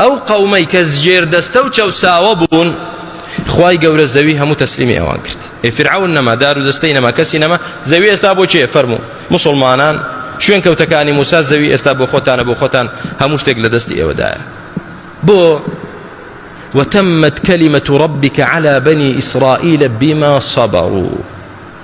ئەو قەومەی کە ژێردەستە و چەوساوە بوون خوای گەورە زەوی هەموو تەسلیمی ئەوان کرد ئێ فرعون نەما دار و دەستەی نەما کەسی نەما زەوی ئێستا بۆ چێ فەرموو مسلمانان شوێن کەوتەکانی موسا زەوی ئێستا بۆ خۆتانە بۆ خۆتان هەموو شتێک لە دەستی ئێوەدایە بۆ وتمت كلمة ربك على بني إسرائيل بما صبروا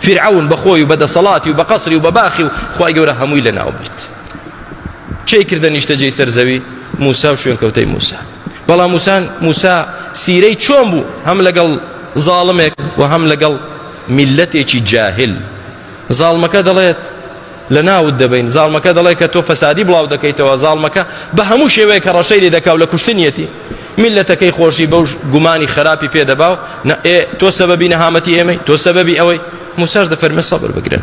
فیرعەون بە خۆی و بە دەسەڵاتی و بە قەسری و بە باخی و خوای گەورە هەمووی لە ناو برد کێی کردە نیشتەجێی سەر زەوی موسا و شوێنکەوتەی موسا بەڵام موسان موسا سیرەی چۆن بوو هەم لەگەڵ زاڵمێک و هەم لەگەڵ میلەتێکی جاهل زاڵمەکە دەڵێت لە ناوت دەبین زاڵمەکە دەڵێت کە تۆ فەسادی بڵاو دەکەیتەوە زاڵمەکە بە هەموو شێوەیە کە ڕەشەی لێ دەکاو لە کوشتنیەتی میللەتەکەی خۆشی بەو گومانی خەراپی پێ دەبا و نە ئێ تۆ سەبەبی نەهامەتی ئێمەی، تۆ سەبەبی ئەوەی، موساش دەفەرمێ سەبر بگرن.